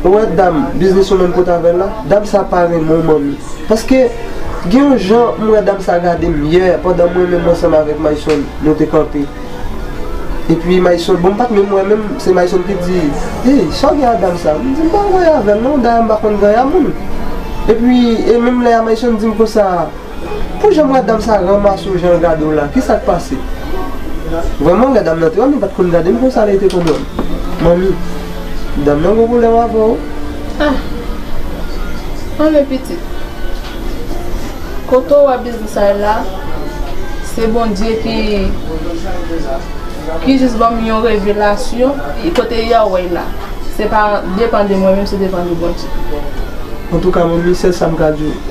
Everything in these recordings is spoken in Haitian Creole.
Ou wè dam biznis ou menm kot avèl la, dam sa pa renmen w manmi. Paske gen yon jan m wè dam sa gade m yè pandan mwen menm ansanm avèk Mayson nou te kanpe. Epi Mayson, bon m pat menm wè menm, se Mayson ki di, Hey sa w gen a dam sa? M di m pa anyen avèl non, dayè m pa konn gaya moun. Epi e menm lè a Mayson di m konsa. Pou jan madam sa ranmase w jan l gade w la ki sa k pase? Vrèman lè dam nan te wè m li pa t konn gade m konsa li te konn wè m Manmi, dam nan gen pwoblèm avè w Ah! Anmè pitit, kote w wè biznis sa ye la se Bondye ki ki jis ban m yon revelasyon kote y a wè l la se pa depan de mwen menm se depan de Bondye. Antouka Manmi, sèl sa m ka di w.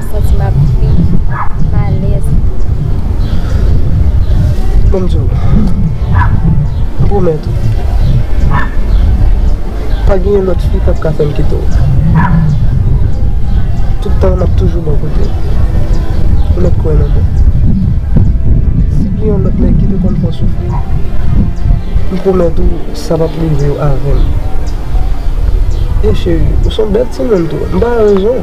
Santi m ap dmi. M alèz. Bon m di w. M pwomèt ou. Pa genyen lòt fi k ap ka fè m kite w. Tout tan m ap toujou bò kote w. Ou mèt kwè nan mwen. Si gen yon lòt nèg ki te konn fè w soufri, m pwomèt ou sa p ap rive w avè m. E cheri, ou s on bèl timoun tou. M pa rezon.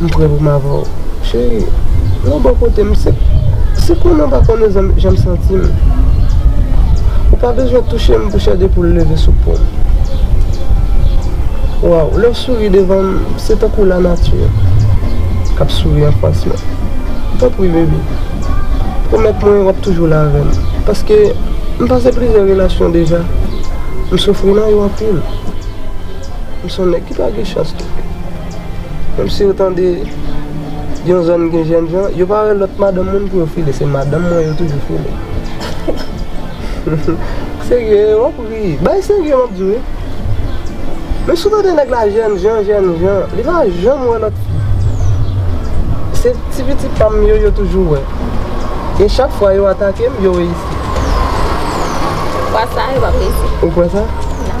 Mprè pou m avè w cheri Nan bò kote m Se konnen w pa konnen jan m santi m Ou pa bezwen touche m pou chè de poul leve sou po m Waww lè w souri devan m Se tankou lanati k ap souri anfas mwen Tanpri baby pwomèt mwen w ap toujou la avè m Paske m pase plizyè relasyon deja M soufri nan yo anpil M s on nèg ki pa gen chans Menm si yo tande yon zòn gen jèn jan, yo pa wè lòt madanm moun pou yo file. Se madanm mwen yo toujou file. Serye, w ap ri. Bagay serye m ap di w wi. Menm si w tande nèg la jèn jan, jèn jan, li pa janm wè lòt fi. Se ti pitit pa m yo, yo toujou wè. E chak fwa yo atake m, yo reyisi. Fwa sa a, yo pa p reyisi. Ou kwè sa? Nan.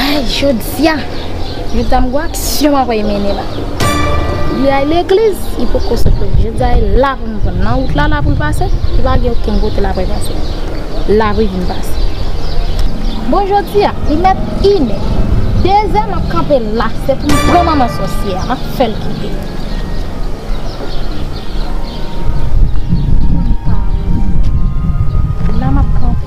Ayy jodia Yon dam gwo aksyon mwen voye mennen la Li al legliz li poko sot legliz jodia e la pou m jwenn nan wout la la pou l pase li pa gen okenn kote l apre pase la pou l vin pase bon jodia li mèt inè dezè m ap kanpe la se pou m pran manman sòsyè a m ap fè l kite la m ap kanpe.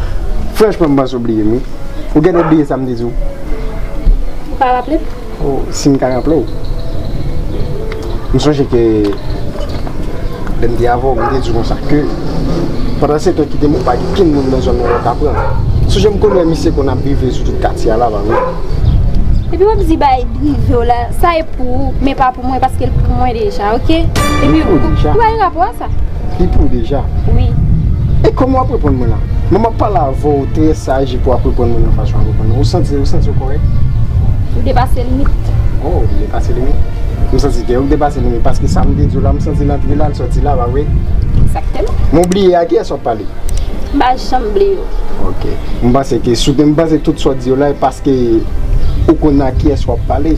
Franchman m panse w bliye m wi. Ou genlè bliye sa m te di w. Ou pa raple m? O, si m ka raple w. M sonje ke lè m te avè w m te di w konsa ke pandan setan kite m ou pa gen okenn moun nan zòn nan ou ka pran. M sonje m konn wè misye konn ap drive sou tout katye a la ba wi. Epi w ap di bagay drive w la, sa e pou ou men pa pou mwen paske l pou mwen deja ok. Epi ou pa gen rapò a sa. Li pou ou deja? Wi. E kòman wap reponn mwen la? Mwen map pale avè w trè saj epi wap reponn mwen nan fason wap reponn lan. Ou santi ou santi ou kòrèk? Ou depase limit. Oh m depase limit? M santi kèw k depase limit paske sa m te di w la m santi l antre la l sòti la pa vre? Ekzakteman. Men w bliye a kiyès wap pale? M pa janm bliye w. Ok. M panse ke si w te m panse tout sa w di yo la e paske ou konn a kiyès wap pale.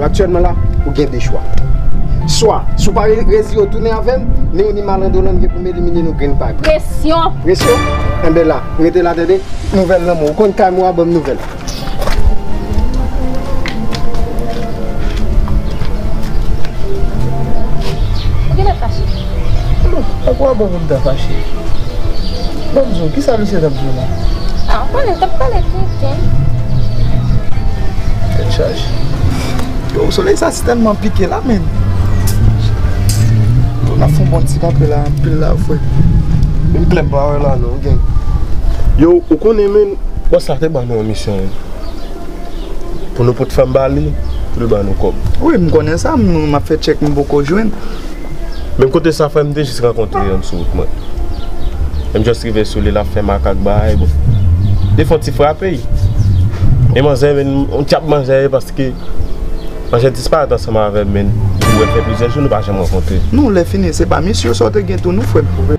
Aktyèlman la, ou gen 2 chwa. Swa, si w pa rezi yo tounen avè m, ni ou ni malandolan m gen pou m elimine nou grenn pa grenn. Presyon! Presyon? Enben la, rete la tande. Nouvèl lanmò. Ou konn kay mwen wa ban m nouvèl. Pou ki lè fache? Alò, a kwa bon pou m ta fache? Bon m di w, kisa misye t ap di w la? A, ou konnen, l t ap pale tenten. Tèt chaje. Yo, solèy sa si tèlman pike la menn. Yo, n ap fè yon bon ti kanpe la anpil la vre. Menm klè m pa wè la non, gen. Yo, ou konnen menn, bòs la te ban nou yon misyon wi. Pou nou pot fanm ba li, pou l ban nou kòb. Wi, m konnen sa, m ap fè tchèk m poko jwenn. Menm kote sa frèm mte jis rankontre yon sou wout mwen em just rive sou li lap fè makak bahay bon li fon ti frape y e manzè menn on tchap manzè ye paske manzè disparèt ansanm avèm menn ou wè fè plizyè jou nou pa janm rankontre. Non lè fini se pa misye sa ou te gen tou non frèm.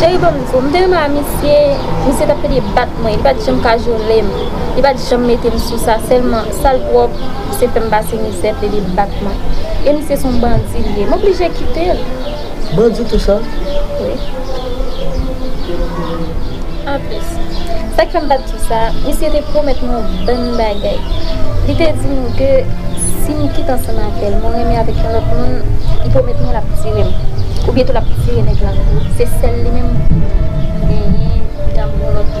Cheri banm diw, m te renmen a misye, misye tap fè li bat mwen, li pat janm kajole m, li pat janm mete m sou sa, sèlman sal pwòp, misye fè m pase mizè, fè li bat mwen. E misye son bandi li ye, m oblije kite l. Mwen di tou sa. An plis, sa k fè m pa di tou sa, misye te pwomèt mwen yon bann bagay. Li te di m ke si m kite ansanm avè l, mwen renmen avèk yon lòt moun, li pwomèt mwen l ap tire m. Oubyen tou l ap tire nèg la. Se sèl li menm m genyen pou dam yon lòt moun.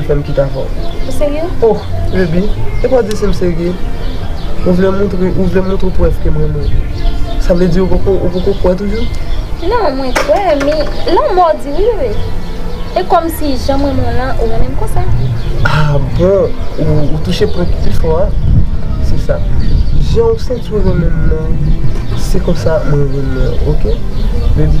Fèm kite avè w. Ou serye? Oh baby e pa w di si m serye. Ou vle montre ou vle montre prèv ke m renmen w. Sa vle di ou poko ou poko kwè toujou? Non mwen kwè men lanmò di wi bebe. E kòmsi jan m renmen w lan ou renmen m konsa. Ah bon ou touche pwen ki pi fò a. Se sa. Jan ou santi w renmen m lan se konsa mwen renmen w ok baby.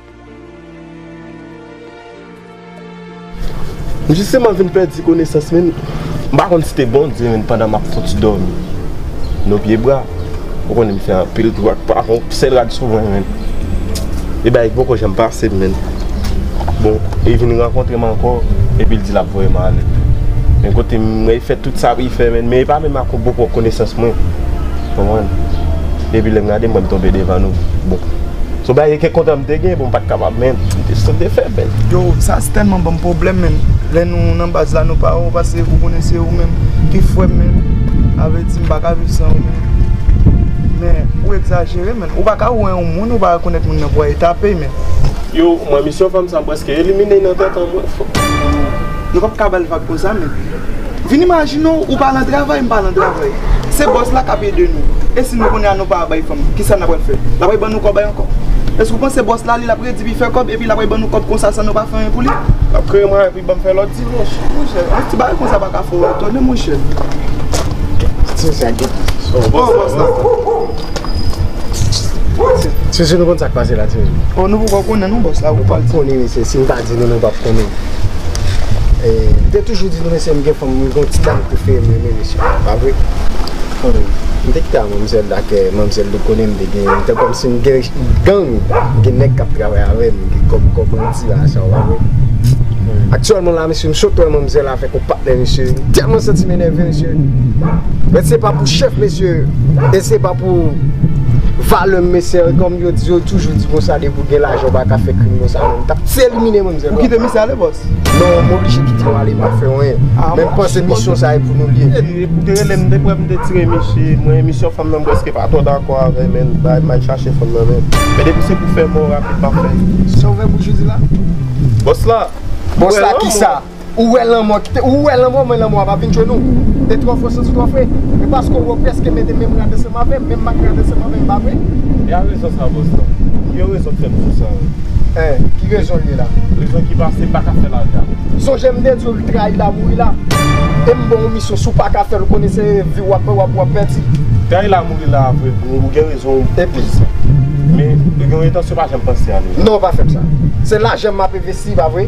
M jisteman vin pèdi konesans men m pa konn si te Bondye menm pandan m ap fouti dòmi nan pye bra. Ou konnen m fè anpil twou ak pavon, sèl rad sou mwen menm. E bagay ki poko janm pase m menm. Bon, li vin rankontre m ankò epi l di l ap voye m ale. Men kote m, m wè li fè tout sa pou li fè menm, men li pa menm ak yon bon pòt konesans mwen. Konprann? Depi lè m gade mwen m tonbe devan nou bon son bagay ke kontan m te gen bon m pat kapab men m te santi fè bèl. Yo sa tèlman banm pwoblèm menm lè nou nan baz la nou pa wè w pase ou konnen se ou menm ki fwè m menm sa vle di m pa ka viv san ou menm men ou egzajere menn ou pa ka wè yon moun ou pa rekonèt moun nan pou w ale tape menn. Yo mwen misyon fanm sa preske elimine nan tèt an mwen. Nou pap ka bal vag konsa menm. Vin imajine w ou pa lan travay m pa lan travay. Se bòs la k ap ede nou. E si nou kounya nou pa bay fanm, kisa n ap pral fè? L ap bay ban nou kòbay ankò? Èske w panse bòs la li l ap redi pi fè kòb epi l ap bay ban nou kòb konsa san nou pa fè anyen pou li? L ap kreye mwayen pou li ban m fè lòt divòs. Monchè, yon ti bagay konsa pa ka fè w etone monchè. Titine sa gen plis. O bòs la. Titine ou konn sa k pase la Titine? O nou poko konnen non bòs la. Ou pap konnen mesye si m pa. Di nou nou pap konnen. M te toujou di nou mesye m gen fanm m gon ti dam prefere m renmen mesye yo pa vre? Fanmi m. M te kite a manmzèl la kè manmzèl li konnen m te gen m te kòmsi m gen gang gen nèg kap travay avè m gen kòm kò bandi la sa w pa vre? Aktyèlman la mesye m sot wè manmzèl avèk yon patnè mesye m tèlman santi m enève mesye men se pa pou chèf mesye e se pa pou valè m mesye kòm yo di yo toujou di konsa depi w gen lajan w pa ka fè krim konsa. Ou tap ti elimine mwen mizè. Ou kite misye ale boss? Non m oblije kite yo ale pa fè anyen. Men m panse misyon sa e pou nou li ye. Ou te rele m depi m te tire misye. Mwen misyon fanm nan m preske pa twò dakò avè men m bay m al chache fanm nan men. Men depi se pou fè mò rapid m ap fè. Sa ou fè bouch ou di la? Boss la. Boss la kisa? Ou wè lanmò kite ou wè lanmò mwen lanmò a pa vin jwenn ou e twò fò santi twò fre e paske ou wè ou prèske mete menm rad ansanm avèm menm mak rad ansanm avèm pa vre? E a rezon sa Boston ki yo rezon fèm di sa yo? Eh ki rezonl ye la? Rezon ki pase m paka fè lage avèw. Sonje m te di w li trayi la mouri la e m ban w misyon si w paka fèl ou konnen se viw wap pè wap wap pèdi. Trayi la mouri la vre bro ou gen rezon w pou di sa men ou gen yon entansyon pa janm panse a nou. Non pa fèm sa se lajan m ap envesti pa vre?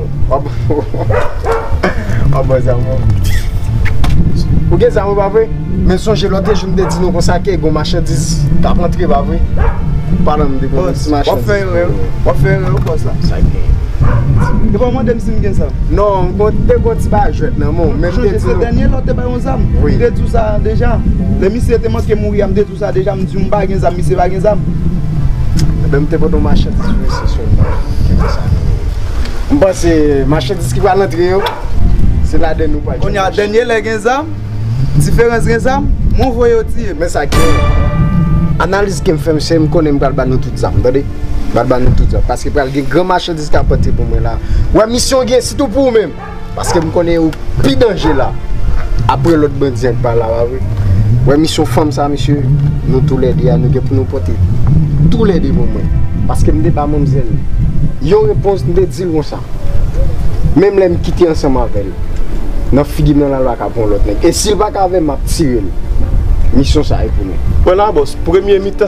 Wap bò zam ou Ou gen zam ou pa vre Men sonje lote jou m te di nou konsa ke gon machandiz kap antre pa vre Padan m te konn si machandiz Wap fè erè wi Wap fè erè wi bòs la Sa gen Yo pa mande m si m gen zam Non m konn te gon ti bagay jwèt nan men w Ou sonje se dènye lòt te bay yon zam M te di w sa deja Lè misye te manke mouri a m te di w sa deja M di w m pa gen zam misye pa gen zam Ebyen m te pote yon machandiz pou misye sou l Kite sa M panse machandiz ki pral antre yo se ladann yo pral Kounye a dènye lè gen zam Diferans gen zam Mwen voye yo tiye m Men sa ki Analiz ke m fè se m konnen m pral ba nou tout zam tande M pral ba nou tout zam paske pral gen gran machandiz k ap antre pou mwen la Ou wè misyon gen sitou pou ou menm Paske m konnen ou pi danje la Apre lot bandi an k pa la wa vre Wè misyon fanm sa mesye Nou tou lè 2 a nou gen pou nou pote Tou lè 2 pou mwen Paske m te ba manmzèl Yon repons m te di l konsa Menm lè m kite ansanm avè l Nan figi m nan la lwa ka pran yon lot nèg E si l pa ka avè m m ap tire l Misyon sa e pou nou. Pran la bos Premye mitan.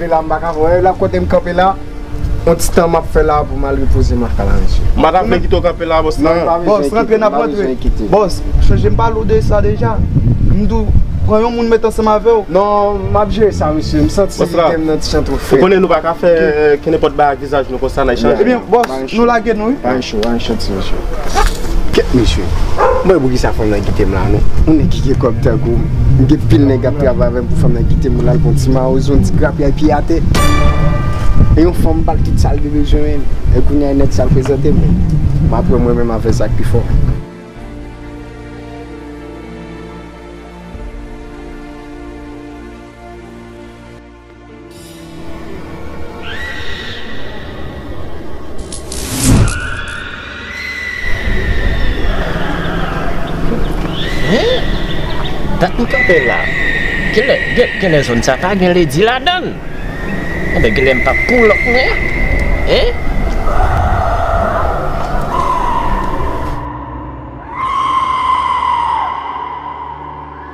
Mpela mpa ka wè la kotem kanpe la yon ti tan map fè la poum al repoze m aka la mesye. Mpa ta vle kite w kanpe la bòs nan. Bòs rantre nap rantre bòs chanje mpa lou de sa deja mdou pran yon moun met ansanm avèw. Non map jere sa mesye msanti tem nan ti jan tro fre. Ou konnen nou paka fè kenenpòt bagay ak vizaj nou konsa nan echanj. Ebyen bòs. Nou lage nou wi. Anh cho anh cho ti mesye. Kèt mesye. M pa wè poukisa fanm nan kite m la non. Yon nèg ki gen kòb tankou m. M gen pil nèg k ap travay avè m pou fanm nan kite m pou l al pran ti mawozo yon ti grapyay piye atè. E yon fanm m pa l kit sa l gen bezwen. E kounye a yon nèg sal prezante m. M ap wè mwen menm avè sa k pi fò. Dat m kanpe la, genlè zòn sa pa gen ledi ladan l. Anben genlè m pa p pull up mwen.